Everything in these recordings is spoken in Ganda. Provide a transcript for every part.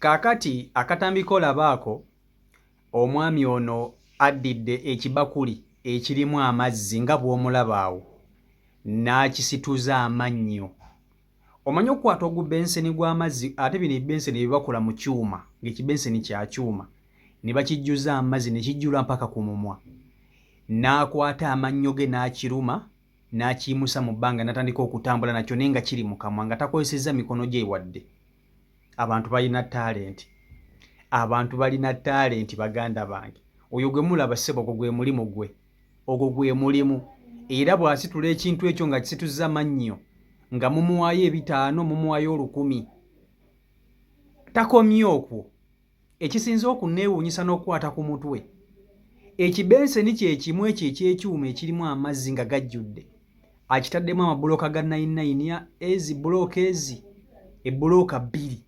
Kaakati akatambi k'olaba ako, omwami ono addidde ekibakuli ekirimu amazzi nga bw'omulaba awo, n'akisituza amannyo. Omanyi okukwata ogubenseni gw'amazzi, ate bino ebibenseni bye bakola mu kyuma, ng'ekibenseni kya kyuma, ne bakijjuza amazzi ne kijjula mpaka ku mumwa. N'akwata amannyo ge n'akiruma, n'akiyimusa mu bbanga, n'atandika okutambula nakyo naye nga kiri mu kamwa, nga takozesezza mikono gye wadde. abantu balina talenti abantu balina talenti baganda bange oyo gwe mulaba ssebo ogwo gwe mulimu gwe ogwo gwe mulimu era bw'asitula ekintu ekyo nga kisituzza mannyo nga mumuwaayo ebitaano mumuwaayo olukumi takomye okwo ekisinze okunneewuunyisa n'okukwata ku mutwe ekibenseni kye kimu ekyo eky'ekyuma ekirimu amazzi nga gajjudde akitaddemu amabulooka ga nayinayini ezi bulooka ezi ebbulooka bbiri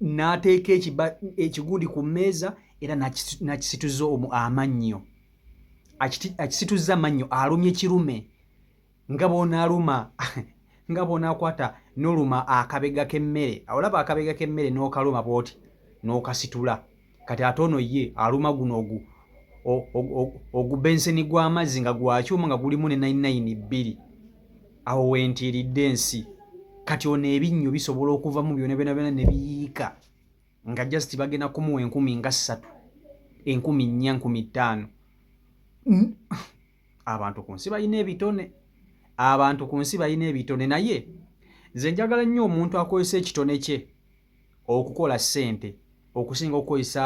n'ateeka ekigundi ku mmeeza era n'akisituza amannyo akisituzza amannyo alumye kirume nga bw'onaaluma nga bw'onaakwata n'oluma akabega k'emmere olaba akabega k'emmere n'okaluma bw'oti n'okasitula kati ate ono ye aluma guno ogu ogubenseni gw'amazzi nga gwakyuma nga gulimu ne nainayini bbiri awo wentiiridde ensi kati ono ebinnyo bisobola okuvamu byona byona byona ne biyiika nga just bagenda kumuwa enkumi nga ssatu enkumi nnya nkumi ttaano abantu ku nsi balina ebitone abantu ku nsi balina ebitone naye nze njagala nnyo omuntu akozesa ekitone kye okukola ssente okusinga okukozesa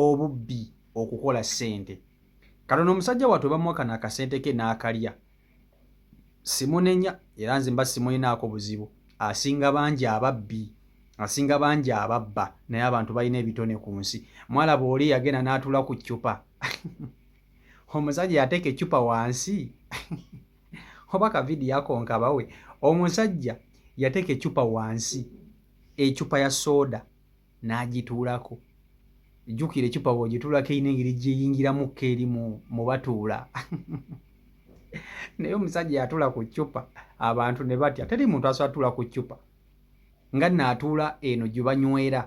obubbi okukola ssente katono omusajja wattu bamuwakana akasente ke n'akalya simunenya era nze mba simulinaako buzibu asinga bangi ababbi asinga bangi ababba naye abantu balina ebitone ku nsi mwalaba oli yagenda n'atula ku ccupa omusajja yateeka eccupa wansi oba kavidiyo akonkabawe omusajja yateeka eccupa wansi eccupa ya sooda n'agituulako jjukira eccupa bw'ogituulako erina engeri gyeyingiramu kko eri mu batuula naye omusajja yatuula ku ccupa abantu ne batya teri muntu asobola tuula ku ccupa nga nno atuula eno gye banywera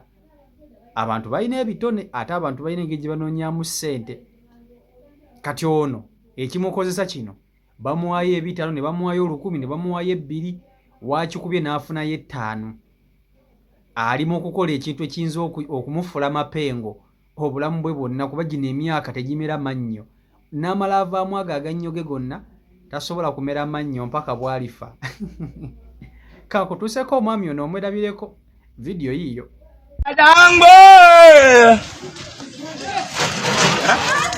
abantu balina ebitone ate abantu balina engeri gye banoonyamu ssente kati ono ekimukozesa kino bamuwaayo ebitaano ne bamuwaayo olukumi ne bamuwaayo ebbiri waakikubye n'afunayo ettaano ali mu okukola ekintu ekiyinza okumufula mapengo obulamu bwe bwonna kuba gino emyaka tegimera mannyo n'amala avaamu ago agannyo ge gonna tasobola kumera mannyo mpaka bwalifa kakutuuseko omwami ono omwerabireko vidiyo yiiyo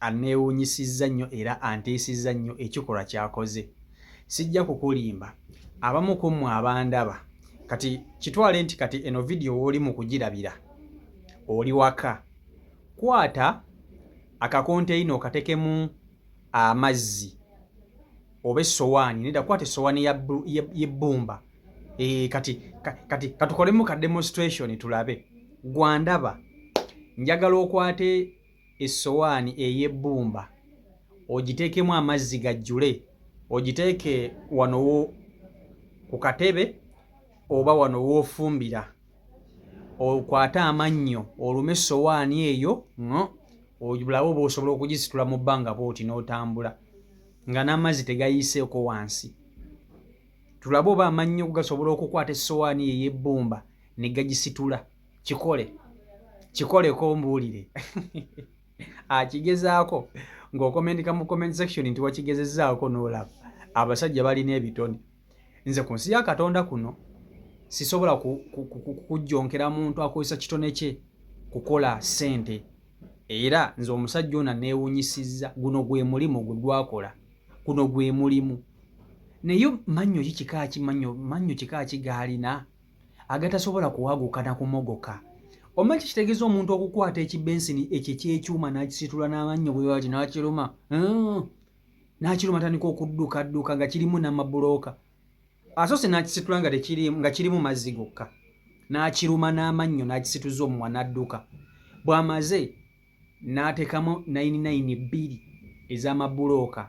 anneewuunyisizza nnyo era antiisizza nnyo ekikolwa ky'akoze. Sijja kukulimba, abamu ku mmwe abandaba kati kitwale nti kati eno vidiyo w'oli mu kugirabira oli waka. Kwata akakonteyina okatekemu amazzi oba essowaani nedda kwata essowaani y'ebbumba eh, kati kati katukolemu ka demonstration tulabe gwandaba njagala okwate essowaani ey'ebbumba ogiteekemu amazzi gajjule, ogiteeke wano ku katebe oba wano w'ofumbira, okwate amannyo olume essowaani eyo ng'o obulabe oba osobola okugisitula mu bbanga bwoti n'otambula nga n'amazzi tegayiiseeko wansi tulabe oba amannyo gasobola okukwata essowaani eyebbumba ne gagisitula kikole kikoleko ombuulire akigezaako ng'okomentika mu comment section nti wakigezezaako n'olaba abasajja balina ebitone nze ku nsi ya katonda kuno sisobola kujjonkera muntu akozesa kitone kye kukola ssente era nze omusajja ona neewunyisizza guno gwe mulimu gwe gwakola guno gwe mulimu naye mannyo ki kika ki mannyo kika ki gaalina agatasobola kuwaguka na kumogoka omanyi kitegeeza omuntu okukwata ekibensini ekyo ekyekyuma n'akisitula n'amannyo bwewati n'akiruma hmm. n'akiruma tandika okuddukadduka nga kirimu n'amabulooka asoose n'akisitula nga tekirimu nga kirimu mazzi gokka n'akiruma n'amannyo n'akisituza omuwa n'adduka bw'amaze n'ateekamu nayini nayini bbiri ez'amabulooka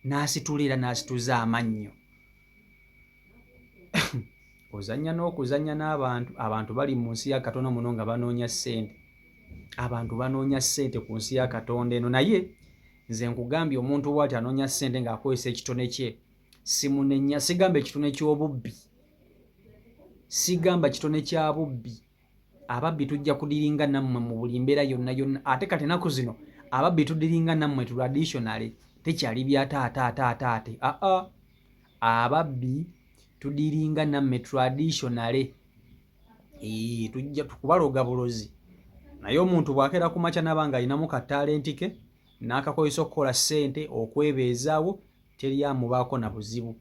n'asitula era n'asituza amannyo ozanya n'okuzanya n'abantu abantu bali mu nsi ya katonda muno nga banoonya ssente abantu banoonya ssente ku nsi ya katonda eno naye nze nkugambye omuntu waati anoonya ssente ng'akozesa ekitone kye simunenya sigamba ekitone ky'obubbi sigamba kitone kya bubbi ababbi tujja kudiringa nammwe mu buli mbeera yonna yonna ate kati enaku zino ababbi tudiringa nammwe traditionally tekyali bya taata ataata ate aa ababbi tudiringa nammwe traditionally ee tujja tukubaloga bulozi naye omuntu bw'akeera ku makya naba nga alinamu ka talenti ke n'akakozesa okukola ssente okwebeezaawo teri amubaako na buzibu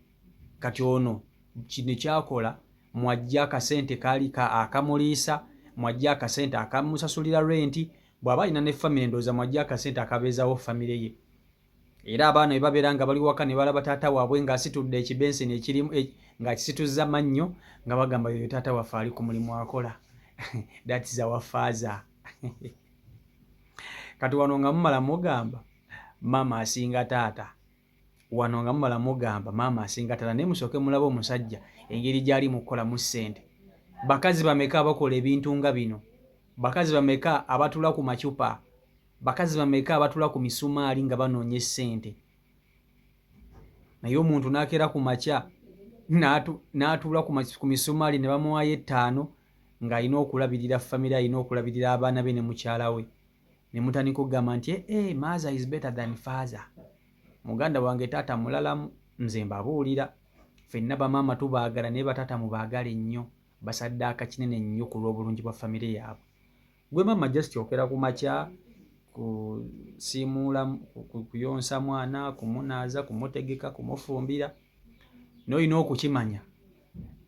Kati ono kino kyakola mwajja akasente kaali ka akamuliisa mwajja akasente akamusasulira renti bw'aba alina ne famire ndowooza mwajja akasente akabeezawo famire ye era abaana bwe babeera nga bali waka ne balaba taata waabwe ng'asitudde ekibenseni ekirimu e, ng'akisituzza mannyo nga bagamba yoyo taata waffe ali ku mulimu akola that is our father kati wano nga mumala mugamba maama asinga taata wano nga mumala mugamba maama asinga tala naye musooke mulabe omusajja engeri gyali mukukolamu ssente bakazi bameka abakola ebintu nga bino bakazi bameka abatula ku macupa bakazi bameka abatula ku misumaali nga banoonya essente naye omuntu nakeera ku makya n'atuula ku misumaali ne bamuwaayo ettaano ng'alina okulabirira famire alina okulabirira abaana be ne mukyala we ne mutandika okugamba nti ee eh, eh, maaza is better than faaza muganda wange taata mulalamu nze mbabuulira fenna bamaama tubaagala naye bataata mubaagale nnyo basaddaaka kinene nnyo ku lw'obulungi bwa famire yaabwe gwe maama just okera ku makya kusiimuula kuyonsa mwana kumunaaza kumutegeka kumufumbira noolina okukimanya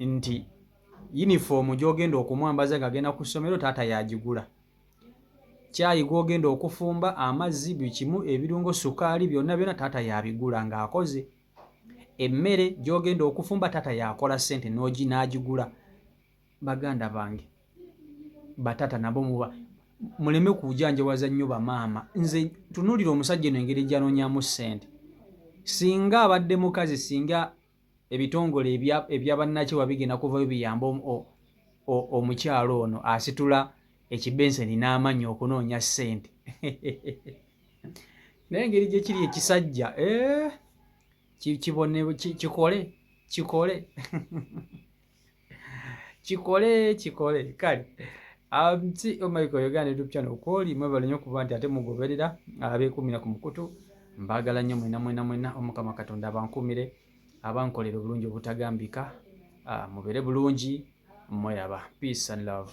nti yunifoomu gy'ogenda okumwambaza ng'agenda ku ssomero taata yagigula caayi gw'ogenda okufumba amazzi buli kimu ebirungo sukaali byonna byonna taata y'abigula ng'akoze emmere gy'ogenda okufumba taata y'akola ssente n'ogi n'agigula baganda bange bataata nabo muba muleme kujanjawaza nnyo bamaama nze tunuulira omusajja eno engeri gyanonyamu ssente singa abadde mukazi singa ebitongole ebya bannakyewa bigenda kuvayo biyambe omukyalo ono asitula ekibenseni n'amannyi okunoonya ssente naye engeri gye kiri ekisajja eh, kibone kikole kikole kikole kikole kale nti um, omaiko oh yogera ne YouTube channel kwoli mwebale nnyo kuba nti ate mugoberera abeekumira ku mukutu mbaagala nnyo mwena mwena mwena omukama katonda abankumire abankolera obulungi obutagambika ah, mubeere bulungi mweraba peace and love